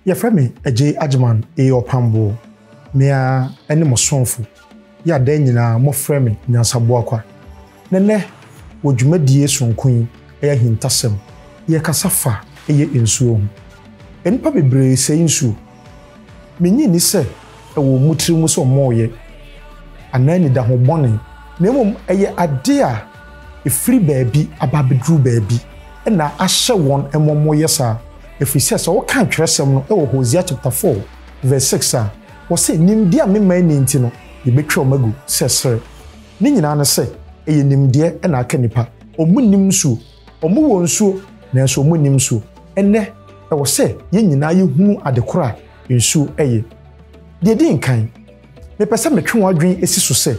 yɛfrɛ me agye agyeman ɛyɛ ɔpamboɔ mea ɛne mo somfo yɛ adan nyinaa mofrɛ me nyansaboa kwa na nɛ wɔ dwumadie sonko yi ɛyɛ ahintasɛm yɛkasa fa ɛyɛ nsuo ho nnipa bebree sɛe nsuo Minnye nni sɛ ɛwɔ mo tirim sɛ wɔreyɛ anaa anidahɔ bɔne, na mmom ɛyɛ ade a efiri baabi aba abeduru baabi na ahyɛ wɔn ma wɔyɛ saa. Ɛfiri sɛ, sɛ wokan twerɛsɛm no wɔ Hosea chapter four verse six a, wɔse, Nimdeɛ a mema nni nti no, yɛbɛtwa wɔn agu sɛ serɛ. Ne nyinaa ne sɛ, ɛyɛ nimdeɛ na aka nnipa. Wɔnnim nsuo, Wɔwɔ nsuo, nanso wɔnnim nsuo. Ɛnnɛ, ɛwɔ sɛ yɛn nyinaa yɛhunu ade korɔ a nsuo yɛ. Deɛ ɛdi nkan, mepɛ sɛ metwe wɔn adwene si so sɛ,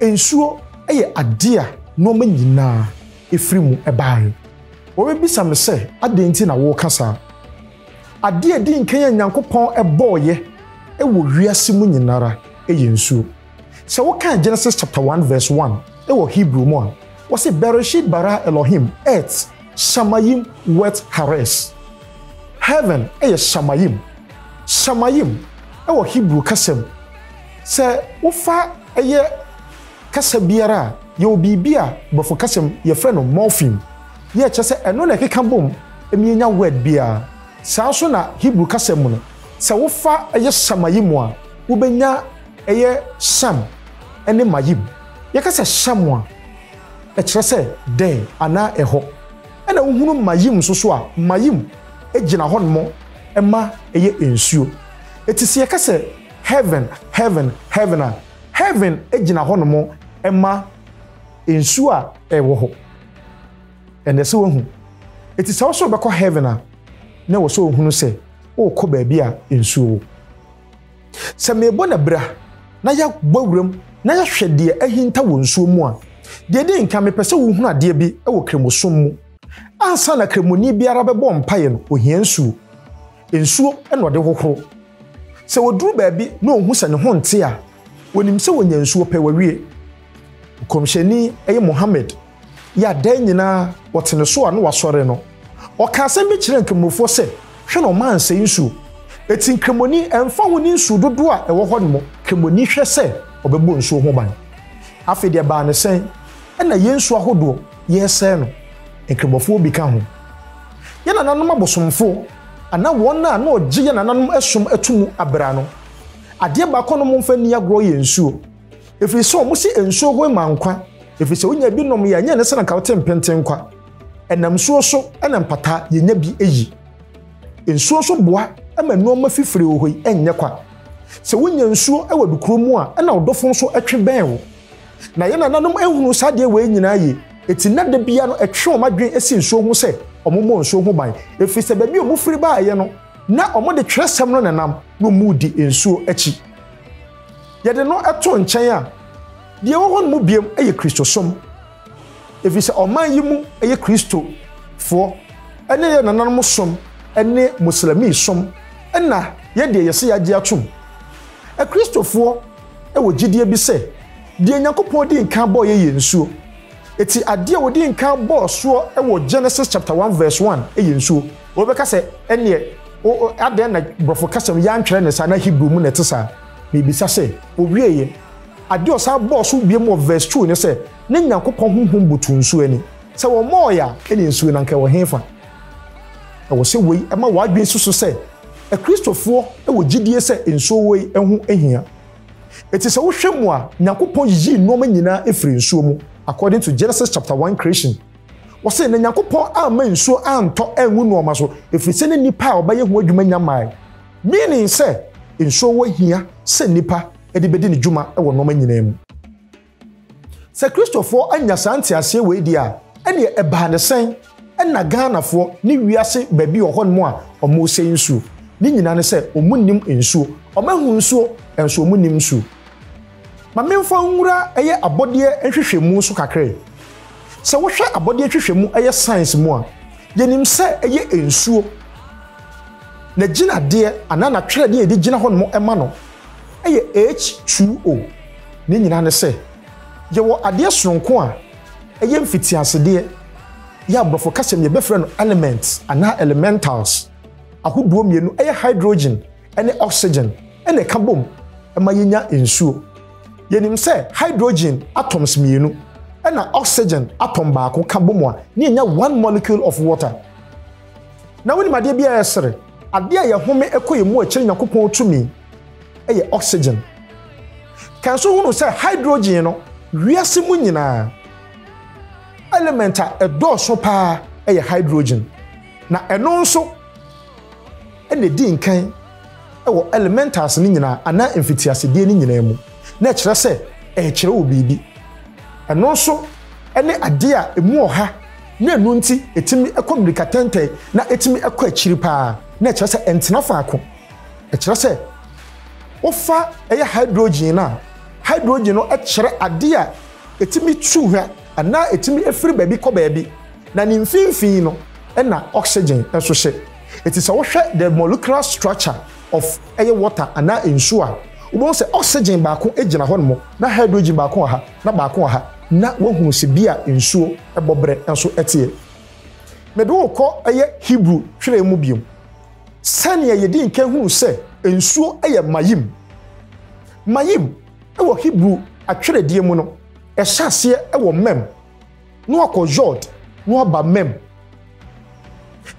nsuo yɛ adeɛ a nnoɔma nyinaa firi mu baeɛ. Wɔbɛbisa me sɛ, adɛn nti na woreka saa? Adeɛ a ɛdi nkan a Nyankopɔn bɔeɛ wɔ wiase mu nyinara yɛ nsuo. Sɛ wokan Genesis chapter one verse one wɔ Hebrew mu a, wɔse Bereshit bara Elohim et shamayim wet haaretz. Heaven yɛ shamayim. Shamayim wɔ Hebrew kasa mu, sɛ wofa yɛ kasa biara a, yɛwɔ biribi a Borɔfo kasa mu yɛfrɛ no morpheme, yɛ kyerɛ sɛ ɛno na ɛkeka bom ma yɛnya word biara. Saa nso na Hebrew kasa mu no, sɛ wofa yɛ shamayim a, wobɛnya Ɛyɛ Sham ne Mayim. Yɛka sɛ Sham a, ɛkyerɛ sɛ dɛn anaa ɛhɔ. Ɛna wohunu Mayim nso so a, Mayim gyina hɔnom ma ɛyɛ nsuo. Eti sɛ yɛka sɛ heaven, heaven, heaven a, heaven gyina hɔnom ma nsuo a ɛwɔ hɔ. Ɛna ɛsɛ wohu. Eti sɛ wo sɛ wobɛkɔ heaven a, na ɛwɔ sɛ wohunu sɛ worekɔ baabi a nsuo wɔ. Sɛ merebɔ no abira na yɛabɔ awuram na yɛahwɛ deɛ ahinta wɔ nsuo mu a, deɛ ɛdi nkan mepɛ sɛ wohunu adeɛ bi wɔ kremosom mu. Ansa na kremoni biara bɛbɔ mpaeɛ no, ɔhia nsuo. Nsuo na ɔde hohoro. Sɛ ɔduru baabi na ɔhu sɛ ne ho nte a, ɔnim sɛ ɔnya nsuo pɛ, wawie. Nkɔmhyɛni, ɛyɛ Muhammad, yɛ a da nyinaa wɔte ne so a na wasɔre no, ɔka asɛm bi kyerɛɛ Nkramofoɔ sɛ, Hwɛ na ɔma ansɛe nsuo. Enti Nkramoni, ɛmfa ho ne nsuo dodoɔ a ɛwɔ hɔ no mu, Nkramoni hwɛ sɛ ɔbɛbɔ nsuo ho ban. Afei deɛ ɛbaa no sɛn? Ɛnna yɛn nsuo ahodoɔ yɛresɛe no, Nkramofoɔ bi ka ho. Yɛn nananom abosomfoɔ, anaa wɔn a na wɔgye yɛn nananom som to mu abira no, adeɛ baako a na wɔmfa nni agorɔ yɛ nsuo. ɛfiri sɛ wɔn se nsuo ho ma nkwa ɛfiri sɛ wonya bi nom yɛ ɛnyɛ ne sɛ na nka wote mpenten nkwa ɛnam nsuo so ɛna mpataa yɛnya bi ɛyi nsuo nso boa ɛma nneɛma fifiri wɔ hɔ yi ɛnyɛ kwa sɛ wonya nsuo ɛwɔ dukuro mu a ɛna ɔdɔfo nso ɛtwe bɛn wo na yɛn nananom ɛhunu saa deɛ wei nyinaa yie ɛti na da bia no ɛtwe wɔn adwene ɛsi nsuo ho sɛ wɔn mmɔ nsuo ho ban ɛfiri sɛ baabi wɔn firi baayɛ no na wɔn de twerɛsɛm no nenam na wɔn di nsuo akyi Yɛde no to nkyɛn a, deɛ ɛwɔ hɔ no mu biom yɛ Kristosom, ɛfiri sɛ ɔman yi mu yɛ Kristofoɔ ne yɛn nananom som ne Moslemi som na yɛ deɛ yɛse yɛagye atom. Akristofoɔ wɔ gyidie bi sɛ deɛ Nyankopɔn dii nkan bɔɔ yɛ yɛ nsuo, ɛti adeɛ a ɔdii nkan bɔɔ soɔ wɔ Genesis chapter one verse one yɛ nsuo. Wobɛka sɛ ɛnneɛ adɛn na Brɔfo kasa mu yɛantwerɛ no saa na Hebrew mu na ɛte saa? Mibisa sɛ, Owiei ɛ? Ade a ɔsan bɔɔ so bio wɔ vɛs two ne sɛ, Na Nyankopɔn honhom butuw nsu ani. Sɛ wɔmmɔɔ ɛ a, ɛnneɛ nsu no anka ɛwɔ hefa? Ɛwɔ sɛ wei ma w'adwene si so sɛ Akristofoɔ wɔ gyidie sɛ nsuo wei ho hia. Enti sɛ wohwɛ mu a, Nyankopɔn yiyii nnoɔma nyinaa firii nsuo mu, according to Genesis chapter one creation. Wɔse, Na Nyankopɔn amma nsuo antɔ angu nnoɔma so, ɛfiri sɛ na nnipa a wɔbɛyɛ ho adwuma nnya mmaeɛ. Meaning sɛ, nsuo wɔ hia sɛ nnipa de bɛdi ne dwuma wɔ nnoɔma nyinaa mu. Sɛ Kristofoɔ annya saa nteaseɛ wei deɛ a, ɛnneɛ ɛbaa no sɛn na Ghanafoɔ ne wiase baabi wɔ hɔnom a wɔresɛe nsuo? Ne nyinaa ne sɛ wɔnnim nsuo. Wɔahu nsuo, nanso wɔnnim nsuo. Ma memfa nwura ɛyɛ abɔdeɛ nhwehwɛmu so kakra yi. Sɛ wohwɛ abɔdeɛ nhwehwɛmu ɛyɛ science mu a, yɛnim sɛ ɛyɛ nsuo. N'agyinadeɛ anaa n'atwerɛdeɛ a yɛde gyina hɔ nom ma no ɛyɛ H2O. Ne nyinaa ne sɛ, yɛwɔ adeɛ sononko a ɛyɛ mfitiasedeɛ, yɛ aborɔfo kasa mu yɛbɛfrɛ no elements anaa elementals, ahodoɔ mmienu ɛyɛ hydrogen, ne oxygen na ɛka bom ma yenya nsuo. Yɛnim sɛ hydrogen atoms mmienu na oxygen atom baako ka bom a na yɛnya one molecule of water. Na wonim adeɛ bi a ɛsere adeɛ a yɛhome ɛkɔ yɛn mu a ɛkyerɛ Nyankopɔn tumi yɛ oxygen. Kan so hunu sɛ hydrogen no wiase mu nyinaa element a ɛdɔɔso paa yɛ hydrogen na ɛno nso na edi nkan wɔ elementals no nyinaa anaa mfitiasedeɛ no nyinaa mu, na ɛkyerɛ sɛ ɛrekyerɛ wo biribi. Ɛno nso ne adeɛ a ɛmu ɔha na ɛno nti ɛtumi kɔ mmirikatɛntɛn na ɛtumi kɔ akyiri pa ara, na ɛkyerɛ sɛ ɛntena faako. Ɛkyerɛ sɛ wofa ɛyɛ hydrogen no a, hydrogen no kyerɛ adeɛ a ɛtumi tu hwa anaa ɛtumi firi baabi kɔ baabi, na ne mfimfini no na oxygen nso hyɛ. Enti sɛ wohwɛ the molecular structure of ɛyɛ water anaa nsuo a, wobɛhu sɛ oxygen baako gyina hɔ nom na hydrogen baako wɔ ha na baako wɔ ha na woahunu sɛ bi a nsuo bɔ berɛ nso teɛ. Mede wo rekɔ ɛyɛ Hebrew twerɛ mu bio. Sɛdeɛ yɛdi nkan hunu sɛ nsuo yɛ mayim. Mayim wɔ Hebrew atwerɛdeɛ mu no, ɛhyɛ aseɛ wɔ mem na wakɔ Yod na waba Mem.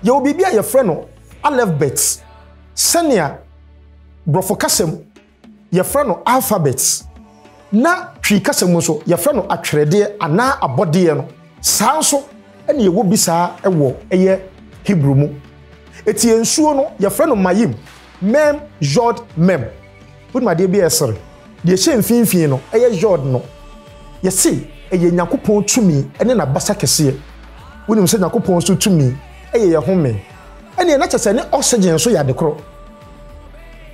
Yɛwɔ biribi a yɛfrɛ no alefbet, sɛnea Borɔfo kasa mu yɛfrɛ no alphabet, na Twi kasa mu nso yɛfrɛ no atwerɛdeɛ anaa abɔdeɛ no, saa nso na yɛwɔ bi saa wɔ ɛyɛ Hebrew mu. Eti nsuo no yɛfrɛ no Mayim, Mem, Yod, Mem. Wonim adeɛ bi a ɛsere? Deɛ ɛhyɛ mfinfii no yɛ Yod no. Yɛse ɛyɛ Nyankopɔn tumi ne N'abasa kɛseɛ. Wonim sɛ Nyankopɔn nso tumi yɛ yɛn home. Ɛneɛ na kyɛsɛ ne oxygen nso yɛ adekoro.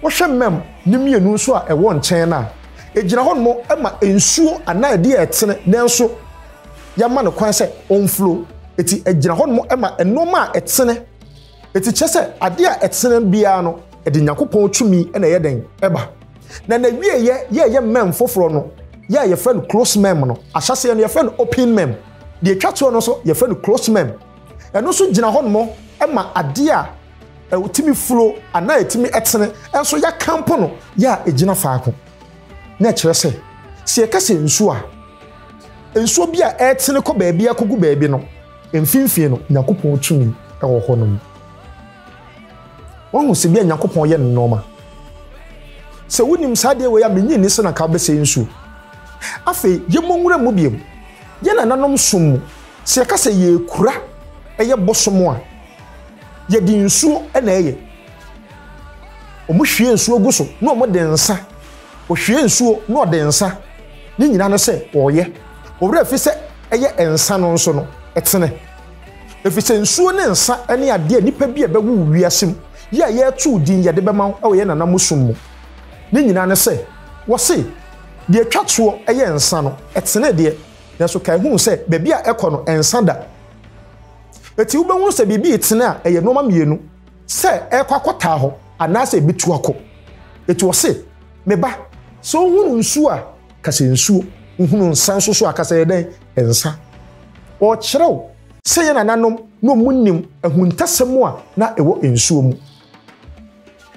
Wohwɛ mmɛm no mmienu nso a ɛwɔ nkyɛn no a, ɛgyina hɔnom ma nsuo anaa adeɛ a ɛtene nanso yɛama no kwan sɛ ɔnflow. Eti ɛgyina hɔnom ma nnoɔma a ɛtene. Enti kyerɛ sɛ ade a ɛtene biara no, ɛde Nyankopɔn tumi na ɛyɛ dɛn? Ɛba. Na n'awieeɛ yɛ ɛyɛ mem foforɔ no, yɛ a yɛfrɛ no closed mem no. Ahyɛaseɛ no, yɛfrɛ no open mem. Deɛ ɛtwa toɔ no nso, yɛfrɛ no closed mem. Ɛno nso gyina hɔnom ma adeɛ a ɛtumi furo anaa ɛtumi tene nso yɛakampo no yɛ a ɛgyina faako. Na ɛkyerɛ sɛ, sɛ yɛka sɛ nsuo a, nsuo bi a ɛretene kɔ baabi akɔgu baabi no, Mfinfii no, Nyankopɔn tumi wɔ hɔnom. Wahu sɛbia Nyankopɔn yɛ nnoɔma. Sɛ wonim saa adeɛ wei a, mennye nni sɛ na nka wobɛsɛe nsuo. Afei, yɛmmɔ nwura mu biom. Yɛn nananom som mu, sɛ yɛka sɛ yɛrekura ɛyɛ bosom a, yɛde nsuo na ɛyɛ. Wɔhwie nsuo gu so na wɔde nsa. Ɔhwie nsuo na ɔde nsa ne nyina no sɛ ɔreyɛ ɔwerɛ ɛfiri sɛ ɛyɛ nsa no nso no ɛtene ɛfiri sɛ nsuo ne nsa ne adeɛ a nnipa bi a ɛbɛwo wo wiase mu yi a yɛreto din yɛde bɛma wo wɔ yɛn nana mo som mu ne nyina no sɛ wɔse deɛ ɛtwa toɔ ɛyɛ nsa no ɛtene deɛ nanso kae hunu sɛ baabi a ɛkɔ no ɛnsa da ɛti wobɛhunu sɛ biribi retene a ɛyɛ nnoɔma mmienu Sɛ ɛrekɔ akɔtaa hɔ, anaasɛ ebetu akɔ. Eti ɔse, Me ba, sɛ wohunu nsu a, ka sɛ nsuo, wohunu nsa nso so a, ka sɛ yɛ dɛn? Nsa. Ɔrekyerɛ wo sɛ yɛn nananom na wɔnim ahuntasɛm a na ɛwɔ nsuo mu.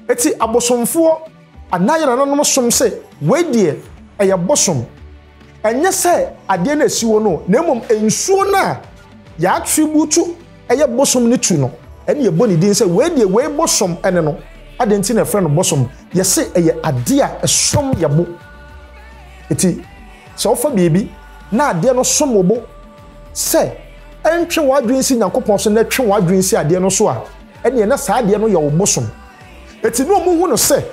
Eti abosomfoɔ anaa yɛn nananom som sɛ wei deɛ ɛyɛ bosom. Ɛnyɛ sɛ adeɛ no a ɛsi hɔ no, na mmom nsuo no a yɛatrebutu ɛyɛ bosom no tu no, ɛna yɛbɔ ne din sɛ wei deɛ wei bosom ne no. Adɛn nti na yɛfrɛ no bosom? Yɛse ɛyɛ adeɛ a ɛsom yɛn bo. Enti sɛ wofa biribi na adeɛ no som wo bo sɛ ɛntwe w'adwene nsi Nyankopɔn so na ɛtwe w'adwene nsi adeɛ no so a, ɛneɛ na saa adeɛ no yɛ wo bosom. Enti na wɔhu no sɛ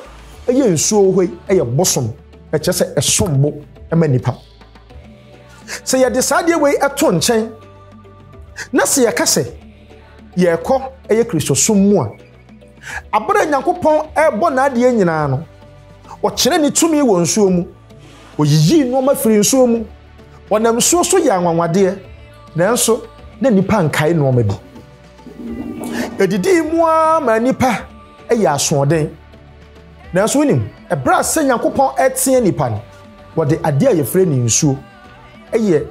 ɛyɛ nsuo hɔ yi yɛ bosom. ɛkyɛ sɛ ɛsom bo ma nipa sɛ yɛde saa adeɛ wei ɛto nkyɛn na sɛ yɛka sɛ yɛrekɔ ɛyɛ kristosom mu a abere nyankopɔn ɛrebɔ n'adeɛ nyinaa no ɔkyerɛ ne tumi wɔ nsuo mu ɔyiyii nneɛma firi nsuo mu ɔnam nsuo so yɛ anwanwadeɛ nanso na nipa nkae nneɛma bi ɛdidii mu ara ma nipa ɛyɛ asoɔden Nanso wonim, ɛberɛ a sɛ Nyankopɔn ɛteɛ nipa no, wɔde adeɛ a yɛfrɛ no nsuo yɛ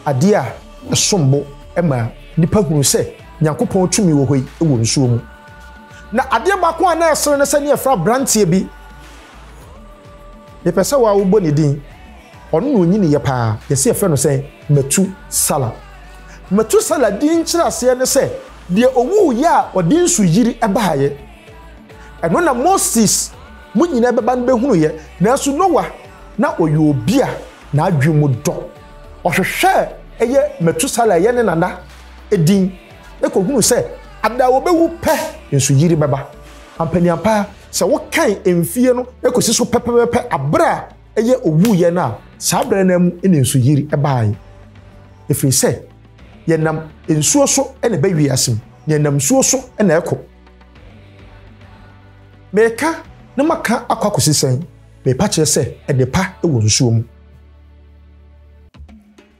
adeɛ a ɛsombo ma nipa hunu sɛ Nyankopɔn tumi wɔ hɔ yi wɔ nsuo mu. Na adeɛ baako a na ɛsere no sɛ ne yɛfrɛ abranteɛ bi, mepɛ sɛ wɔa wobɔ ne din, ɔno na ɔnyiniiɛ paa, yɛse yɛfrɛ no sɛn? Matu Sala. Matu Sala din nkyerɛaseɛ ne sɛ, deɛ ɔwuiɛ a ɔde nsu yiri baeɛ. Ɛno na Moses mo nyinaa bɛba no bɛhunuiɛ. Nanso Noa, na ɔyɛ obi a n'adwene mu dɔ. Ɔhwehwɛɛ ɛyɛ Metusala ɛyɛ ne nana din, na kɔhunuu sɛ ada a ɔbɛwu pɛ nsuyiri bɛba. Ampaniampa ara, sɛ wokan mfie no kɔsi so pɛpɛpɛpɛ aberɛ a ɛyɛ ɔwuiɛ no a, saa berɛ no ara mu na nsuyiri baeɛ. Ɛfiri sɛ yɛnam nsuo so na ɛba wiase mu, na yɛnam nsuo so na ɛkɔ. Meka na maka akɔ akɔsi sɛn? Mepa kyerɛ sɛ ɛde pa wɔ nsuo mu.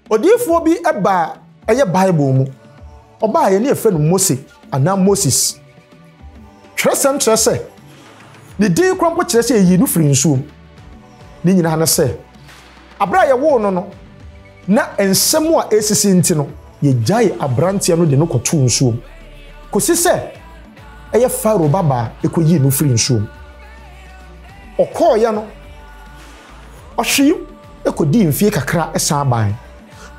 Odiyifoɔ bi baa ɛyɛ Bible mu. Ɔbaa yɛ ne yɛfrɛ no Mose anaa Moses. Twerɛsɛm kyerɛ sɛ ne din kora mpo kyerɛ sɛ yɛyii no firi nsuo mu. Ne nyinaa ne sɛ, aberɛ a yɛwoo no no, Ná nsɛm a ɛresisi nti no, yegyaee aberanteɛ no de no kɔtoo nsuom kɔsi sɛ ɛyɛ Farao babaa kɔyii no firii nsuom. Ɔkɔeɛ no, ɔhwee kɔdii mfeɛ kakra san baeɛ.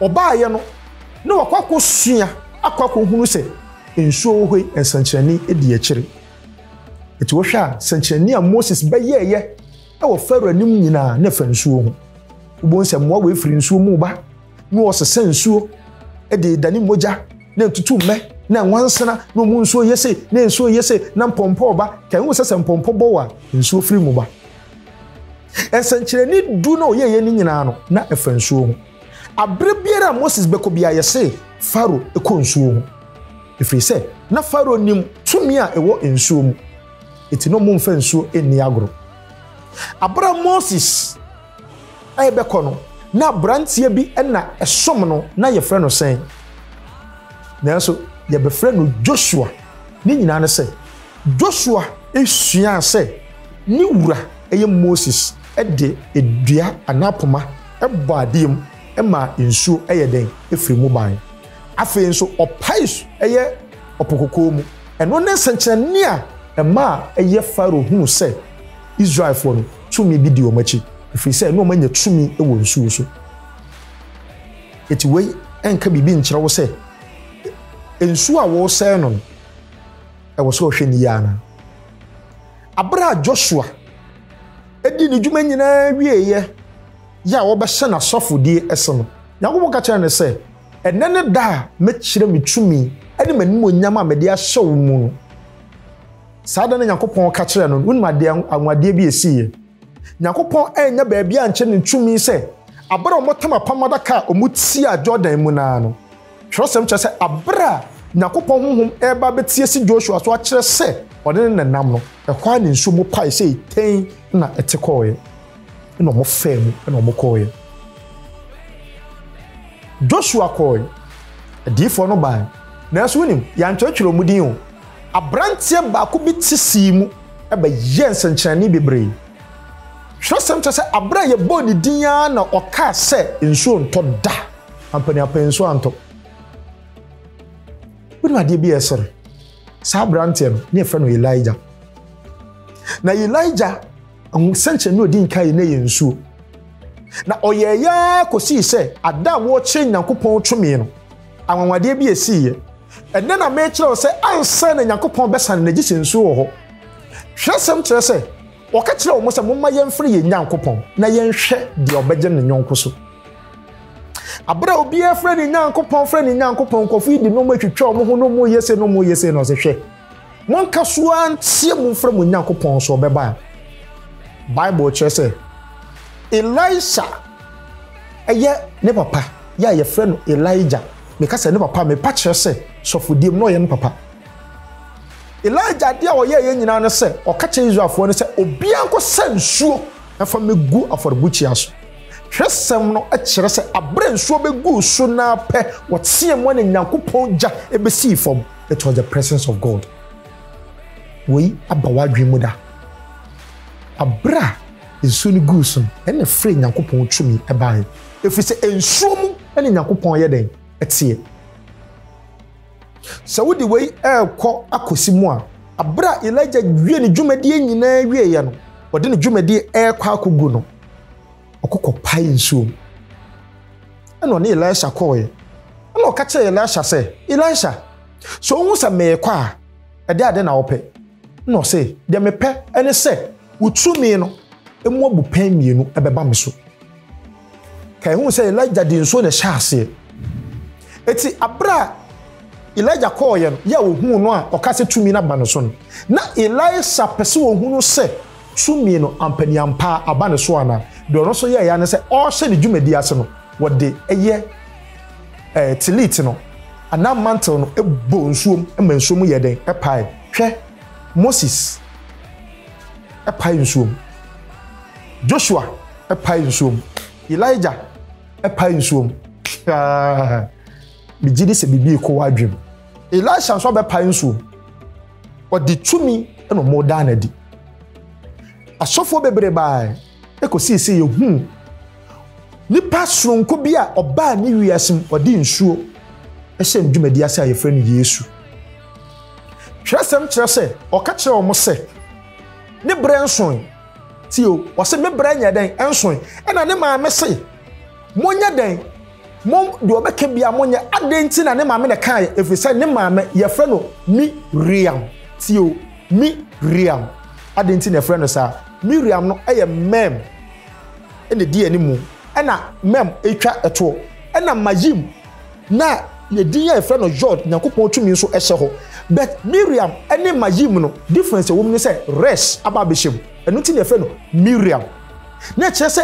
Ɔbaeɛ no, na wakɔ akɔsua akɔ akɔhunu sɛ nsuo wɔ hɔ yi nsɛnkyerɛnne di akyire. Enti wohwɛ a, sɛnkyerɛnne a Moses bɛyɛeɛ wɔ Farao anim nyinaa na fa nsuo ho. Wobɛhu sɛ mmoa wei firi nsuo mu ba na wɔsesa nsuo de dane mogya na ntutu mmɛ na nwansena na ɔmu nsuo yɛ sei na nsuo yɛ sei na mpɔmpɔ ba kan hu sɛ sɛ mpɔmpɔ bɔ a nsuo firi mu ba. Nsɛnkyerɛnne du na ɔyɛeɛ no nyinaa no na ɛfa nsuo ho. Aberɛ biara a Moses bɛkɔ bia yɛse Farao kɔ nsuo ho ɛfiri sɛ na Farao nim tumi a ɛwɔ nsuo mu. Enti na wɔmfa nsuo nni agorɔ. Aberɛ a Moses rebɛkɔ no, na aberanteɛ bi na ɛsom no, na yɛfrɛ no sɛn? Nanso yɛbɛfrɛ no Joshua. Ne nyinaa ne sɛ, Joshua suaa sɛ ne wura ɛyɛ Moses de dua anaa poma bɔ adeɛ mu maa nsuo yɛ dɛn? Firii mu baeɛ. Afei nso ɔpae ɛyɛ Ɔpo Kɔkɔɔ mu. Ɛno ne sɛnkyerɛnne a ɛma a ɛyɛ Farao hunu sɛ Israelfoɔ no tumi bi di wɔn akyi, ɛfiri sɛ na wɔanya tumi wɔ nsuo so. Enti wei nka biribi nkyerɛ wo sɛ nsuo a wɔresɛe no no, ɛwɔ sɛ ɔhwɛ ne yie anaa? Abere a Joshua di ne dwuma nyinaa wieeɛ yɛ a wɔbɛhyɛ n'asɔfodie ɛse no, Nyankopɔn ka kyerɛ no sɛ, Ɛnnɛ ne da a mɛkyerɛ me tumi ne m'animuonyam a mede ahyɛ wo mu no. Saa da no Nyankopɔn ka kyerɛɛ no, wonim adeɛ anwanwadeɛ bi a ɛsiiɛ? Nyankopɔn annya baabi ankyɛ ne tumi sɛ aberɛ a wɔtam apam adaka a wɔtiaa Jordan mu no ara no. Twerɛsɛm kyerɛ sɛ aberɛ a Nyankopɔn honhom reba abɛte asi Joshua so akyerɛ sɛ ɔne no na ɛnam no, ɛhɔ ara ne nsuo mu pae sei tɛnn na ɛte kɔeɛ. Ɛnna wɔfaa mu na wɔkɔeɛ. Joshua kɔeɛ, adiyifoɔ no baeɛ, nanso wonim, yɛantwerɛtwerɛ wɔn din o. Aberanteɛ baako bi te sii mu bɛyɛɛ nsɛnkyerɛnne bebree. Twerɛsɛm kyerɛ sɛ aberɛ a yɛbɔɔ ne din ara na ɔkaa sɛ nsuo ntɔ da. Ampaneampane nsuo antɔ. Wonim adeɛ bi a ɛsere? Saa aberanteɛ no, na yɛfrɛ no Elijah. Na Elijah Nsɛnkyerɛnne a odi nkan yɛ no yɛ nsuo. Na ɔyɛɛ yɛ ara kɔsii sɛ ada a wɔrekyerɛ Nyankopɔn tumi no, anwanwadeɛ bi ɛsiiɛ. Ɛnnɛ na merekyerɛ wo sɛ ansa na Nyankopɔn bɛsane no gye sɛ nsuo wɔ hɔ. Twerɛsɛm kyerɛ sɛ ɔka kyerɛɛ wɔn sɛ momma yɛmfrɛ yɛn Nyankopɔn na yɛnhwɛ deɛ ɔbɛgye ne yɔnko so. Aberɛ a obiara frɛ ne Nyankopɔn frɛ ne Nyankopɔn, nkurɔfoɔ yi de nneɛma twitwa wɔn ho na wɔreyɛ sei na wɔreyɛ sei na ɔse hwɛ, Monka so ara nteɛ mu mfrɛ mo Nyankopɔn sɛ ɔbɛba a. Bible kyerɛ sɛ Elisha ɛyɛ ne papa yɛ a yɛfrɛ no Elijah. Meka sɛ ne papa mepa kyerɛ sɛ sɔfodiem na ɔyɛ ne papa. Elijah adeɛ a ɔyɛ yɛ nyinaa no sɛ ɔka kyerɛ Israelfoɔ no sɛ obiara nkɔsa nsuo ɛfa mɛgu afɔrebukyia so. Twerɛsɛm no kyerɛ sɛ aberɛ nsuo bɛguu so naa pɛ wɔteɛ mu ne Nyankopɔn gya ɛbɛsii fam. It was the presence of God. Wei aba w'adwene mu da? Abere a nsuo no guu so no, ɛna ɛfrɛ Nyankopɔn tumi baeɛ. Ɛfiri sɛ nsuo mu ne Nyankopɔn yɛ dɛn? Ɛteɛ. Sɛ wode wei ɛrekɔ akɔsi mu a, abere a Elijah wie ne dwumadie nyinaa wieeɛ no, ɔde ne dwumadie ɛrekɔ akɔgu no, Ɔkɔ kɔpae nsuo mu. Ɛna ɔne Elisha kɔɔeɛ. Ɛna ɔka kyerɛɛ Elisha sɛ, Elisha, sɛ wohu sɛ merekɔ a, ɛdeɛ ade na wopɛ? Ɛna ɔse, deɛ mepɛ ne sɛ wo tumi no mu abupɛn mmienu bɛba me so. Ka ɛhu sɛ Elijah de nsuo na ɛhyɛ aseɛ. Eti abere a Elijah kɔɔeɛ no, yɛ a ɔhuu no a ɔka sɛ tumi no aba ne so no, na Elisha pɛ sɛ ɔhunu sɛ Tumi no ampaniampa aba ne so anaa? Deɛ ɔno nso yɛeɛ ara ne sɛ ɔrehyɛ ne dwumadie ase no, wɔde ɛyɛ eh, tillit no anaa mantle no bɔ nsuom ma nsuo mu yɛ dɛn pae. Hwɛ, Moses pae nsuom, Joshua pae nsuom, Elijah pae nsuom. Megye di sɛ biribi rekɔ w'adwene mu. Elisha nso abɛpae nsuom. Ɔde tumi na ɔmo daa n'adi. Asɔfoɔ bebree baae, ɛkɔsii sɛ yɛhuu nipa soronko bi a ɔbaa ne wiase mu, ɔde nsuo ɛhyɛ ne dwumadi ase a yɛfrɛ no Yesu. Twerɛsɛm kyerɛ sɛ ɔka kyerɛ wɔn sɛ ne berɛ nsoe. Tio, ɔse me berɛ nyɛ dɛn nsoe. Ɛna ne maame se. Monyɛ dɛn? Mom, deɛ ɔbɛka biara monyɛ. Adɛn nti na ne maame na ɛkaeɛ? Ɛfiri sɛ ne maame, yɛfrɛ no Mi-riam. Tie o, Mi-riam. Adɛn nti na yɛfrɛ no saa? Mi-riam no yɛ Mɛm na ɛdi animu. Ɛna Mɛm retwa toɔ. Ɛna Mayim na ne din a yɛfrɛ no Yod, Nyankopɔn tumi nso hyɛ hɔ. But Mi-riam ne Mayim no, difference a ɛwɔ mu ne sɛ Resh aba abɛhyɛ mu. Ɛno nti na yɛfrɛ no Mi-riam. na ɛkyerɛ sɛ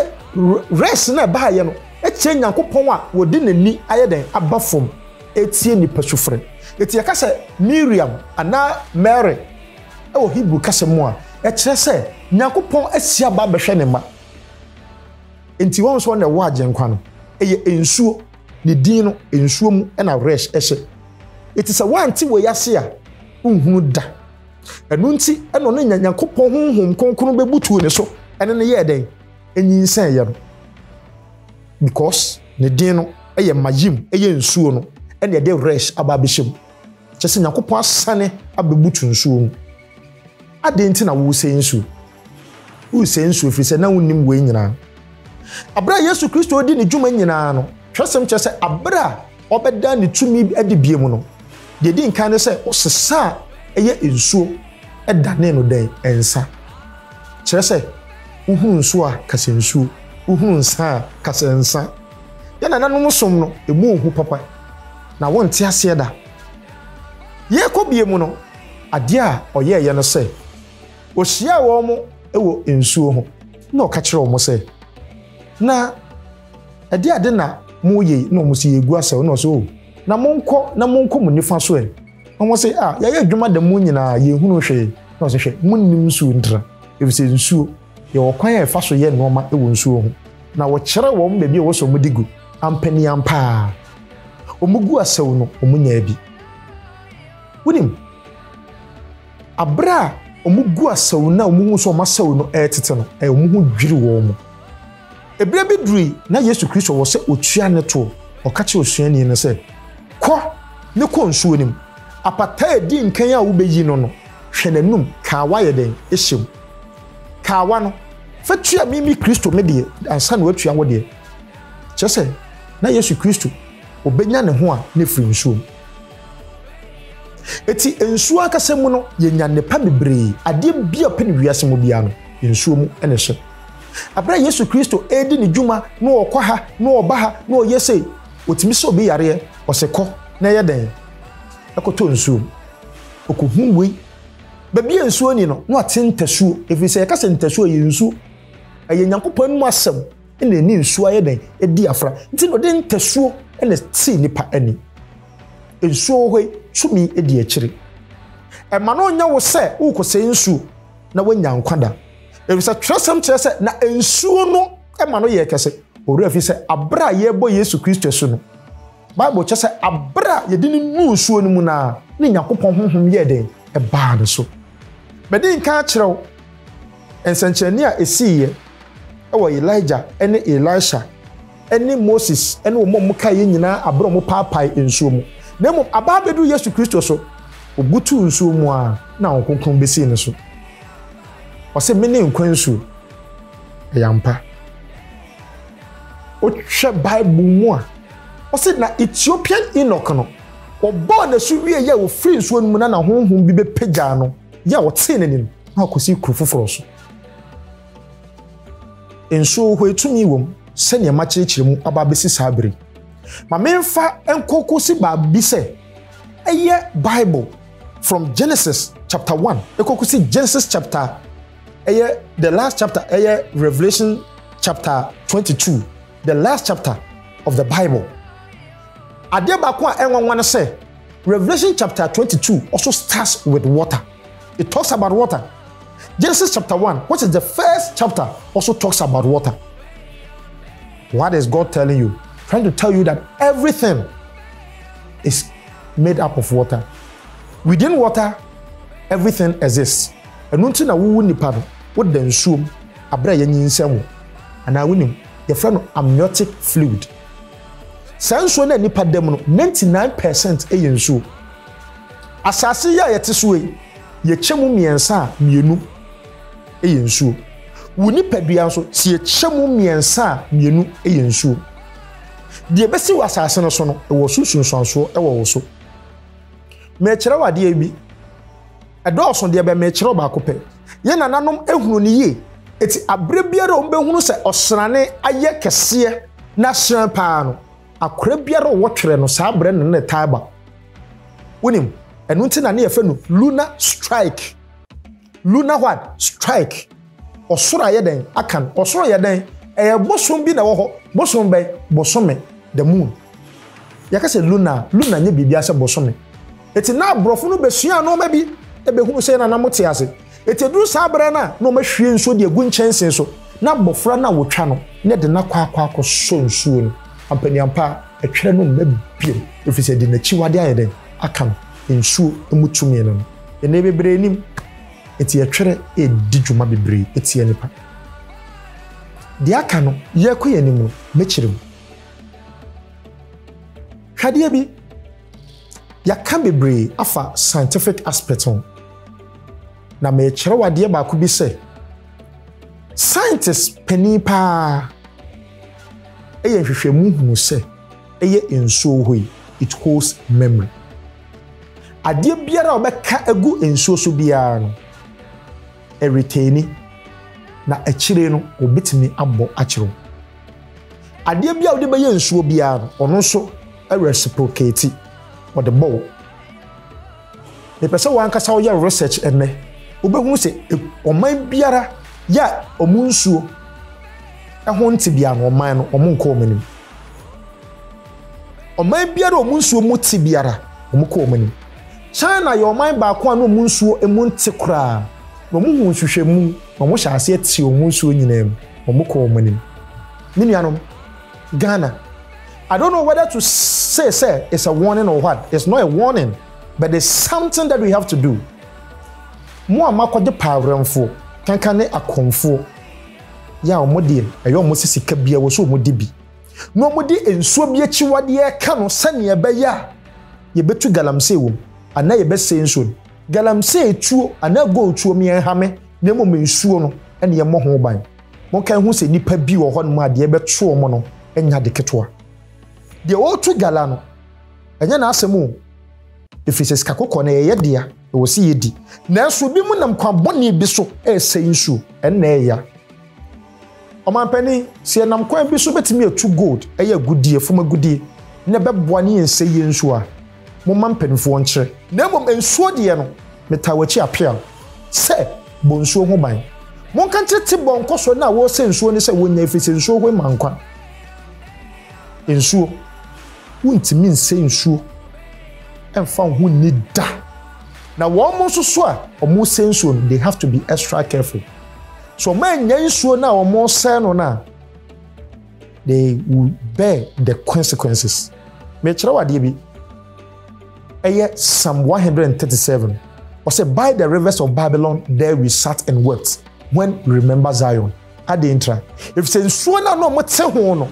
res na ɛbaayɛ no kyerɛ nyankopɔn a wɔde n'ani ayɛ dɛn aba fam ɛtie nipa sufrɛ ɛti yɛka sɛ miriam anaa mary ɛwɔ hebrew kasa mu a ɛkyerɛ sɛ nyankopɔn asi aba bɛhwɛ ne ma nti wɔn nso na ɛwɔ agyenkwa no ɛyɛ nsuo ne din no nsuo mu ɛna res ɛhyɛ ɛti sɛ wɔante wɔ yase a nhunu da ɛno nti ɛna ɔne nyankopɔn honhom kronkron bɛbutuu ne so ɛne no yɛɛ dɛn ɛnyinsɛn yɛ no because ne din no ɛyɛ mayim ɛyɛ nsuo no ɛne ɛde resh aba abɛhyɛ mu kyɛ sɛ nyankopɔn asane abɛbutu nsuo mu adɛn nti na wosɛ nsuo Woresɛ nsu ɛfiri sɛ na wonnim wei nyinaa. Aberɛ a Yesu Kristo redi ne dwuma nyinaa no, twerɛsɛm kyerɛ sɛ aberɛ a ɔbɛda ne tumi adi bie mu no, deɛ ɛdi nkan ne sɛ ɔsesa a ɛyɛ nsuo danee no dɛn? Nsa. Kyerɛ sɛ wohunu nsuo a kasɛ nsuo, wohunu nsa a kasɛ nsa. Yɛn nananom som no, ɛmu ɔhu papa na wonte aseɛ da. Yɛrekɔ bie mu no, adeɛ a ɔyɛɛyɛ no sɛ Ohyiaa wɔn wɔ nsuo ho. Na ɔka kyerɛɛ wɔn sɛ, Na ɛdeɛ ade na moreyɛ yi? Na wɔn se, Yɛregu asau. Na ɔse, O, na monkɔ na monkɔ mo nifa so ɛ? Na wɔn se, Ah, yɛayɛ adwuma da mu nyinaa, yɛnhunuu hwee. Na ɔse, Hwɛ, monnim nsuo ntira, ɛfiri sɛ nsuo yɛ ɔkwan a ɛfa so yɛ nnoɔma wɔ nsuo ho. Na wɔkyerɛɛ wɔn baabi a ɛwɔ sɛ wɔde gu. Ampaniampa ara, wɔguu asau no, wɔnyaa bi. Wonim? Bere a wɔgu asau no a wɔhu sɛ wɔn asau no retete no, wɔn ho dwiriw wɔn. Bere bi durui, na Yesu Kristo wɔ sɛ otua ne tow. Ɔka kyerɛɛ osuani no sɛ, Kɔ, ne kɔ nsuo no mu. Apataa a edi nkan a wobeyi no no, hwɛ n'anom, kawa yɛ dɛn? Hyɛ mu. Kawa no, fa tua me, me Kristo, me deɛ, ansa na woatua wo deɛ. Kyerɛ sɛ, na Yesu Kristo, obenya ne ho a, na efiri nsuom. Eti nsuo ankasa mu no, yɛnya nnepa bebree. Adeɛ bi a ɔpɛ no wiase mu biara no, nsuo mu na ɛhyɛ. Aberɛ a Yesu Kristo redi ne dwuma na ɔkɔ ha na ɔba ha na ɔyɛ sei, ɔtumi sa obi yareɛ, ɔse kɔ na yɛ dɛn? Ɛkɔtɔ nsuo mu. Ɔkɔhunu wei. Baabi a nsuo nni no, na wate ntasuo, ɛfiri sɛ yɛka sɛ ntasuo a, ɛyɛ nsuo. Ɛyɛ Nyankopɔn anom asɛm. na ɛne nsuo ayɛ dɛn ɛdi afra nti na ɔde ntasuo na ɛsii nipa ani nsuo wɔ hɔ yi tumi ɛdi akyire ɛma no ɔnyɛ wo sɛ wokɔsɛ nsuo na woanya nkwa da ɛfisɛ twerɛsɛm kyerɛ sɛ na nsuo no ɛma no yɛ kɛse ɔwerɛ fi sɛ aberɛ a yɛbɔ yesu kristo asu no bible kyɛ sɛ aberɛ a yɛde no nu nsuo no mu no a ne nyankopɔn honhom yɛɛ dɛn ɛbaa no so mɛde nka akyerɛ wo nsɛnkyerɛnne a ɛsiiɛ wɔ Elijah ne Elisha ne Moses ne wɔn a wɔkaeɛ nyinaa aberɛ a wɔpaapae nsuo mu. Na mmom aba abɛduru Yesu Kristo so, ɔbutuu nsuo mu a na Honhom Kronkron bɛsii ne so. Ɔse, mene nkwa nsuo. Ɛyɛ ampa. Wohwɛ Bible mu a, ɔse na Ethiopian Enoch no, wɔbɔɔ n'asu wie yɛ a wɔfiri nsuo no mu na na honhom bi bɛpagyaa no yɛ a wɔtee n'anim na wakɔsi kuro foforɔ so. Nso hwɛ tumi wom sɛdeɛ makyerɛkyerɛ mu aba abɛsi saa bere yi. Ma memfa nkɔ kɔsi baabi sɛ ɛyɛ Bible from Genesis chapter one ɛkɔ kɔsi Genesis chapter ɛyɛ the last chapter ɛyɛ Revelation chapter twenty two the last chapter of the Bible. Adeɛ baako a ɛnwanwa no sɛ Revelation chapter twenty two also starts with water. It talks about water. Genesis chapter 1, which is the first chapter, also talks about water. What is God telling you? Trying to tell you that everything is made up of water. Within water, everything exists. ɛno nti na wowu nipa no woda nsuom aberɛ a yɛnyi nsɛm wo anaa wonim yɛfrɛ no amniotic fluid saa nsuo no a nipa da mu no 99 percent yɛ nsuo Asase yi a yɛte so yi, yɛkyɛ mu mmiɛnsa a, mmienu yɛ nsuo. Wo nipadua nso, sɛ yɛkyɛ mu mmiɛnsa a, mmienu yɛ nsuo. Deɛ ɛbɛsi wɔ asase no so no, ɛwɔ so nsunsuansoɔ wɔ wo so. Merekyerɛ wo adeɛ bi. Ɛdɔɔso deɛ bɛ merekyerɛ wo baako pɛ. Yɛn nananom ehunu no yie. Eti abere biara a wɔbɛhunu sɛ ɔsrane ayɛ kɛseɛ na ahyerɛn paa no, Akora biara ɔwɔ twerɛ no saa berɛ no na ne taa ba. Wonim, ɛno nti na ne yɛfɛ no Luna Strike. Luna what? Strike. Ɔsoro ayɛ dɛn? Akan. Ɔsoro yɛ dɛn? Ɛyɛ bosom bi na ɛwɔ hɔ. Bosom bɛn? Bosome, the moon. Yɛka sɛ Luna a, Luna nyɛ biribiara sɛ bosome. Enti na aborɔfo no besuaa nnoɔma bi bɛhunu sɛ na na mote ase. Enti ɛduru saa berɛ no a na wɔahwie nsuo de agu nkyɛnsee so na abɔfra no a wɔtwa no no ɛde no akɔ akɔ akɔsɔ nsuo no. Ampaniampa ɛtwerɛ no mma bio ɛfiri sɛ ɛde n'akyiwadeɛ ayɛ dɛn aka no, nsuo mu tumi no no. Ɛnnɛ bebree nim, enti ɛtwerɛ redi dwuma bebree tia nnipa. Deɛ aka no yɛrekɔ yɛn anim no mɛkyerɛ mu. Hwɛ adeɛ bi. Yɛaka bebree afa scientific aspect ho, na merekyerɛ wo adeɛ baako bi sɛ, scientist panin paa ɛyɛ nhwehwɛmu hunu sɛ ɛyɛ nsuo hɔ yi, it holds memory. Adeɛ biara a wɔbɛka agu nsuo so biara no, ɛretaini, na akyire no wɔbɛtumi abɔ akyerɛ wo. Adeɛ bi a wode bɛyɛ nsuo biara no, ɔno nso reciprocate, ɔde bɔ wo. Mepɛ sɛ wankasa woyɛ research ɛnɛ, wobɛhunu sɛ ɔman biara yɛ a ɔmo nsuo ɛho nte biara no ɔman no ɔmo nkɔ ɔmo anim. Ɔman biara a ɔmo nsuo mu te biara ɔmo kɔ ɔmo anim. China yɛ ɔman baako a na ɔmo nsuo emu nte koraa na ɔmo hu nhwehwɛmu Na wɔn hyɛɛ aseɛ tee wɔn nsuo nyinaa mu, wɔn kɔɔ wɔn anim. Me nuanom, Ghana, I don't know whether to say sɛ it's a warning or what, it's not a warning but it's something that we have to do. Mo a moakɔgye paawerɛmfoɔ, kanka ne akɔmfoɔ, yɛ a wɔn deɛ ɛyɛ wɔn sɛ sika bia wɔ sɛ wɔn di bi, na wɔn de nsuo bi akyiwadeɛ ɛka no sɛdeɛ ɛbɛyɛ a yɛbɛtu galamsey wɔ mu anaa yɛbɛsɛe nsuo no. Galamsey tuo anaa gold tuo me nhame na mmom nsuo no na yɛmmɔ ho ban. Monkae ho sɛ nnipa bi wɔ hɔnom a deɛ ɛbɛto wɔn no nyɛ ade ketewa. Deɛ ɔretu gala no, ɛnyɛ n'asɛm o, ɛfiri sɛ sika kɔkɔɔ no ɛyɛ yɛ dea, ɛwɔ sɛ yɛdi. Nanso ebinom nam kwan bɔne bi so resɛe nsuo, ɛnna ɛyɛ ya. Ɔmanpanin, sɛ yɛnam kwan bi so bɛtumi atu gold, ɛyɛ agudeɛ, fam agudeɛ, na ɛbɛboa ne yɛn sɛyie nso a, momma mpanimfoɔ nkyerɛ. Na mmom nsuo deɛ no, metaa w'akyi appeal sɛ, bɔ nsuo ho ban. Monka nkyerɛ Tibor nkɔsoɔ no a wɔresɛ nsuo no sɛ wɔnnya ɛfiri sɛ nsuo hoe ma nkwa. Nsuo, wontumi nsɛ nsuo mfa wo ho nni da. Na wɔn nso so a wɔresɛ nsuo no, they have to be extra careful. So wɔannya nsuo no a wɔresɛe no no a, they will bear the consequences. Mekyerɛ wo adeɛ bi. Ɛyɛ Psalm 137. Ɔsɛ by the rivers of Babylon there we sat and wept when we remember Zion. Adeɛ ntra. Efisɛ nsuo no a na wɔte ho no,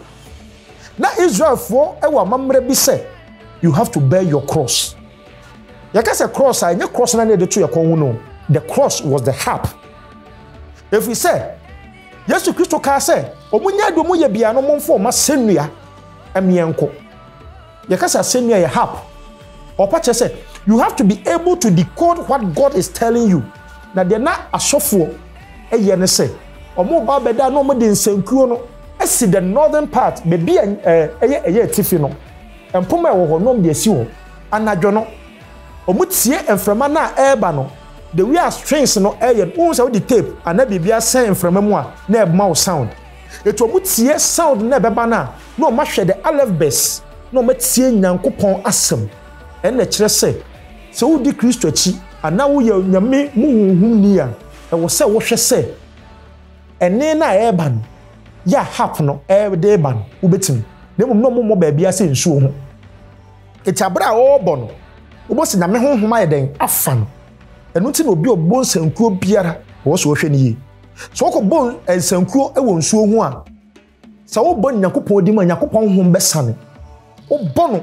na Israelfoɔ wɔ amammerɛ bi sɛ you have to bear your cross. Yɛka sɛ krɔɔs a, ɛnyɛ krɔɔs no ara na yɛde to yɛn kɔn ho no. The cross was the harp. Ɛfiri sɛ, Yesu Kristo kaa sɛ, ɔmo nyɛ ade ɔmo yɛ biara no, momfa ɔmo asɛnnua mmeɛ nkɔ. Yɛka sɛ asɛnnua yɛ harp. Ɔpa kyerɛ sɛ, you have to be able to decode what God is telling you. Na deɛ na asɔfoɔ ɛyɛ ne sɛ, ɔmo ba bɛda na ɔmo de nsankuo no asi the northern part, baabi a ɛyɛ ɛyɛ atifi no. Mpoma a ɛwɔ hɔ no wɔde asi hɔ. Anadwo no, wɔtie mframa no a ɛreba no. The way a strings no yɛ no, wohu sɛ wode tape anaa biribi asɛn mframa mu a, na ɛma wo sound. Enti wɔtie sound no a ɛbɛba no a, na wɔahwɛ the alefbes, na wɔatie Nyankopɔn asɛm. Ɛno na ɛkyerɛ sɛ, sɛ wodi Kristo akyi anaa woyɛ Onyame mu honhomni a, ɛwɔ sɛ wohwɛ sɛ ɛnne no a ɛreba no, yɛ a hap no de reba no wobɛtumi na mmom na ɔmommɔ baabia sɛ nsuo ho ɛti aberɛ a ɔrebɔ no wobɔ sɛ nyame honhom ayɛ dɛn afa no ɛno nti na obi ɔbɔ nsankuo biara ɔwɔ sɛ ɔhwɛ no yie sɛ ɔkɔ bɔ nsankuo wɔ nsuo ho a sɛ wobɔ nyankopɔn di mu a nyankopɔn honhom bɛsane Wobɔ no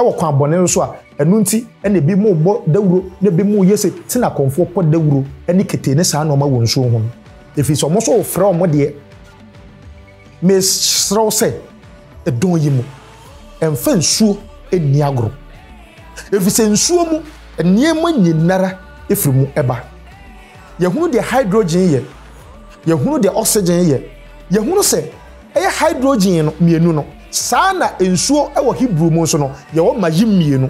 wɔ kwan bɔne no so a, ɛno nti na ebinom bɔ dawuro na ebinom yɛ se te na kɔmfoɔ pɔ dawuro ne kete ne saa nnoɔma wɔ nsuo ho no, ɛfiri sɛ wɔn nso refrɛ wɔn deɛ. Mesrɛ wo sɛ, ɛdɔn yi mu, mfa nsuo nni agorɔ, ɛfiri sɛ nsuo mu nneɛma nyinara firi mu ba. Yɛhunu deɛ hydrogen yɛ, yɛhunu deɛ oxygen yɛ, yɛhunu sɛ. Ɛyɛ hydrogen no mmienu no. Saa ara na nsuo wɔ Hebrew mu nso no, yɛwɔ mayim mmienu.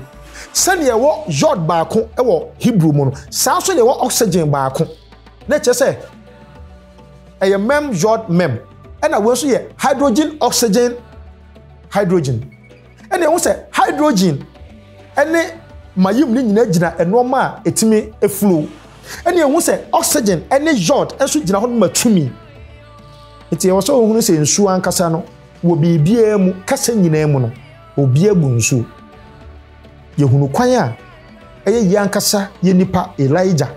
Sɛdeɛ ɛwɔ yod baako wɔ Hebrew mu no, saa nso na ɛwɔ oxygen baako. Na ɛkyerɛ sɛ ɛyɛ mem yod mem. Ɛna wei nso yɛ hydrogen oxygen hydrogen. ɛna ɛho sɛ hydrogen ɛne mayim ne nyinaa gyina nneɛma a ɛtumi flow ɛna ɛho sɛ oxygen ɛne yod nso gyina hɔ ma tumi nti ɛwɔ sɛ ohunu sɛ nsuo ankasa no wɔ biribiara mu kasa nyinaa mu no obiara bu nsuo yɛhunu kwan a ɛyɛ yɛ ankasa yɛ nipa elijah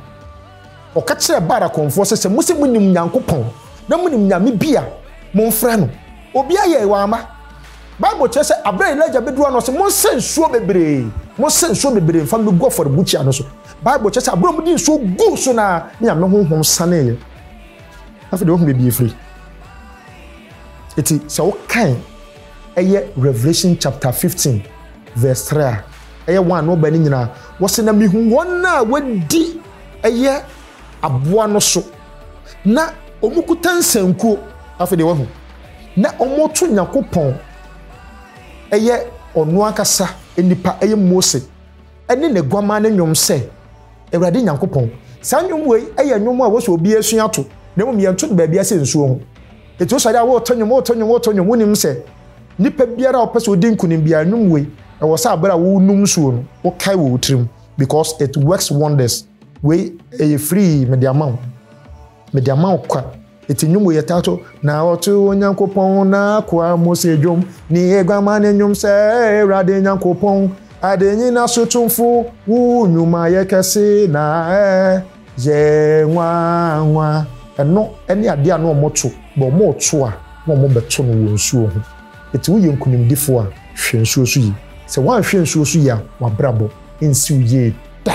Ɔka kyerɛɛ Baal akɔmfoɔ sɛ, Sɛ mose monim Nyankopɔn, na monim nyame bi a, momfrɛ no. Obiara yɛe, wamma. Bible kyerɛ sɛ berɛ a Elijah bɛduru hɔ no, ɔse, Monsa nsuo bebree, monsa nsuo bebree mfa mmɛgu afɔrebukyia no so. Bible kyerɛ sɛ berɛ a wɔde nsuo guu so no ara, ne Nyame honhom saneeɛ. Afei deɛ wahu baabi ɛfiri. Eti sɛ wokan ɛyɛ Revelation chapter fifteen verse three a ɛyɛ one na ɔbɛn no nyinaa wɔsi na mihu wɔn a wɔadi ɛyɛ aboa no so na wɔn kuta nsankuo afei deɛ wɔahu na wɔto nyakopɔn ɛyɛ ɔno ankasa nipa ɛyɛ mose ɛne ne guama ne nnwom sɛ awurade nyankopɔn saa nnwom wei ɛyɛ nnwom a wɔsɛ obi asua to na mmom yɛnto no baabi asɛ nsuo ho Enti wo sɔre a woreto nnwom, woreto nnwom, woreto nnwom, wonnim sɛ nipa biara a ɔpɛ sɛ odi nkunim biara, nnwom wei, ɛwɔ sɛ bere a worenom nsuo no, wokae wɔ wo tirim, because it works wonders. Wei, ɛyɛ free, mede ama wo. Mede ama wo kwa. Enti nnwom wei yɛtaa to, Na ɔto Onyankopɔn n'akoa Mose dwom, ne aguaman nnwom sɛ, Awurade Nyankopɔn, ade nyina so tumfo, wo nnwuma yɛ kɛse na ɛɛ. Yɛɛ nwanwa. Ɛno ne adeɛ a na wɔto bɔ. Wɔreto a, na wɔbɛto no wɔ nsuo ho. Enti woyɛ nkunimdifoɔ a, hwɛ nsuo so yie. Sɛ woanhwɛ nsuo so yie a, w'abrabɔ rensi wo yie da.